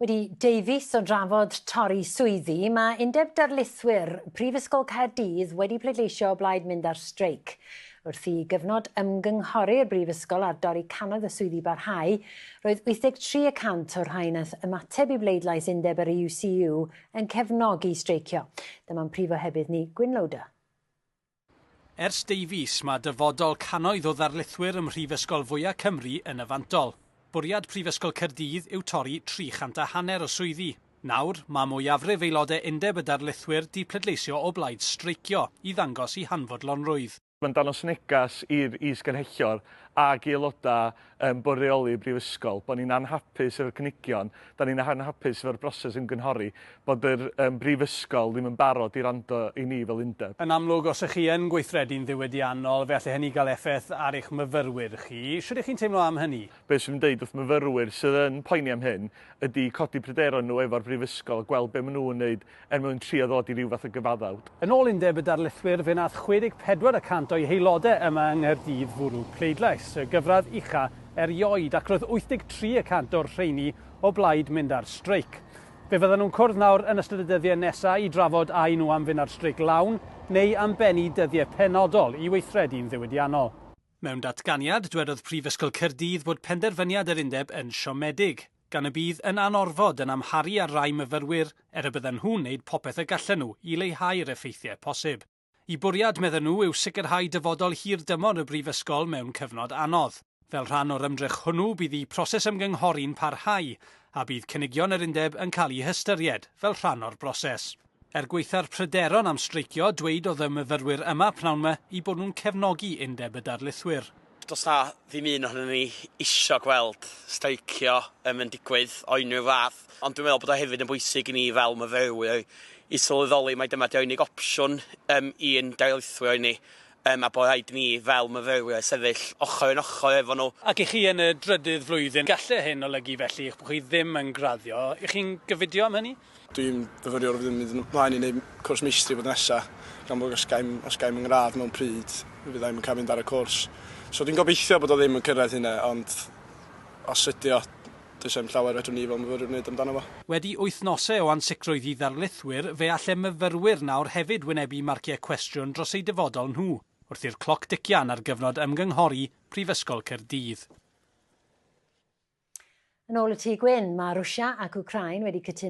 Wedi deu fis o drafod torri swyddi, mae Undeb Darlithwyr Prifysgol Caerdydd wedi pleidleisio o blaid mynd ar streic. Wrth i gyfnod ymgynghori'r brifysgol ar dorri cannoedd o swyddi barhau, roedd 83 y cant o'r rhai wnaeth ymateb i bleidlais undeb yr UCU yn cefnogi streicio. Dyma'n prif ohebydd ni, Gwyn Lowder. Ers deufis, mae dyfodol cannoedd o ddarlithwyr ym mhrifysgol fwya' Cymru yn y fantol. Bwriad Prifysgol Caerdydd yw torri 300 a hanner o swyddi. Nawr, mae mwyafrif aelodau Undeb y Darlithwyr 'di pleidleisio o blaid streicio i ddangos 'u hanfodlonrwydd'. Mae'n dangos neges i'r is-gynhyrchion ac i aelodau yn bwrioli y Brifysgol, bod ni'n anhapus efo'r cynigion, da ni'n anhapus efo'r broses ymgynghori, bod yr um, Brifysgol ddim yn barod i rando i ni fel undeb. Yn amlwg, os ych chi yn gweithredu'n ddiwydiannol, fe alle hynny gael effaith ar eich myfyrwyr chi. Sut ych chi'n teimlo am hynny? Be sy'n dweud wrth myfyrwyr sydd yn poeni am hyn ydy codi pryderon nhw efo'r Brifysgol a gweld be maen nhw'n wneud er mwyn trio ddod i ryw fath o gyfaddawd. Yn ôl Undeb y Darlithwyr, fe wnaeth 64 y cant o'i haelodau yma yng Nghaerdydd fwrw pleidlais, y gyfradd ucha erioed, ac roedd 83 y cant o'r rheini o blaid mynd ar streic. Fe fyddan nhw'n cwrdd nawr yn ystod y dyddiau nesaf i drafod a y'n nhw am fynd ar streic lawn neu am bennu dyddiau penodol i weithredu'n ddiwydiannol. Mewn datganiad, dwedodd Prifysgol Caerdydd fod penderfyniad yr undeb yn siomedig, gan y bydd yn anorfod yn amharu ar rai myfyrwyr er y bydden nhw'n wneud popeth y gallen nhw i leihau'r effeithiau posib. Y bwriad, medden nhw, yw sicrhau dyfodol hirdymor y brifysgol mewn cyfnod anodd. Fel rhan o'r ymdrech hwnnw, bydd y proses ymgynghori'n parhau, a bydd cynigion yr undeb yn cael eu hystyried fel rhan o'r broses. Er gwaetha'r pryderon am streicio, dweud oedd y myfyrwyr yma pnawn 'ma eu bod nhw'n cefnogi Undeb y Darlithwyr. Does 'na ddim un ohonyn ni isio gweld streicio yym yn digwydd o unrhyw fath, ond dwi'n meddwl bod o hefyd yn bwysig i ni fel myfyrwyr i sylweddoli mai dyma 'di'r unig opsiwn yym i'n darlithwyr ni, Yym a bod rhaid i ni fel myfyrwyr sefyll ochr yn ochr efo nhw. Ac i chi yn y drydydd flwyddyn, gallai hyn olygu felly eich bod chi ddim yn graddio. Y'ch chi'n gyfidio am hynny? Dwi'n fyfyriwr a byddwn yn mynd ymlaen i wneud cwrs meistri blwyddyn nesa, gan bod os gaem, os gaem fy ngradd mewn pryd, mi fydda i'm yn cael mynd ar y cwrs. So dwi'n gobeithio bod o ddim yn cyrraedd hynna, ond os ydy o, Does dim llawer fedrwn ni fel myfyrwyr wneud amdano fo. Wedi wythnosau o ansicrwydd i ddarlithwyr, fe alle myfyrwyr nawr hefyd wynebu marciau cwestiwn dros eu dyfodol nhw, wrth i'r cloc dician ar gyfnod ymgynghori Prifysgol Caerdydd. Yn ôl y Tŷ Gwyn, mae Rwsia ac Wcráin wedi cytuno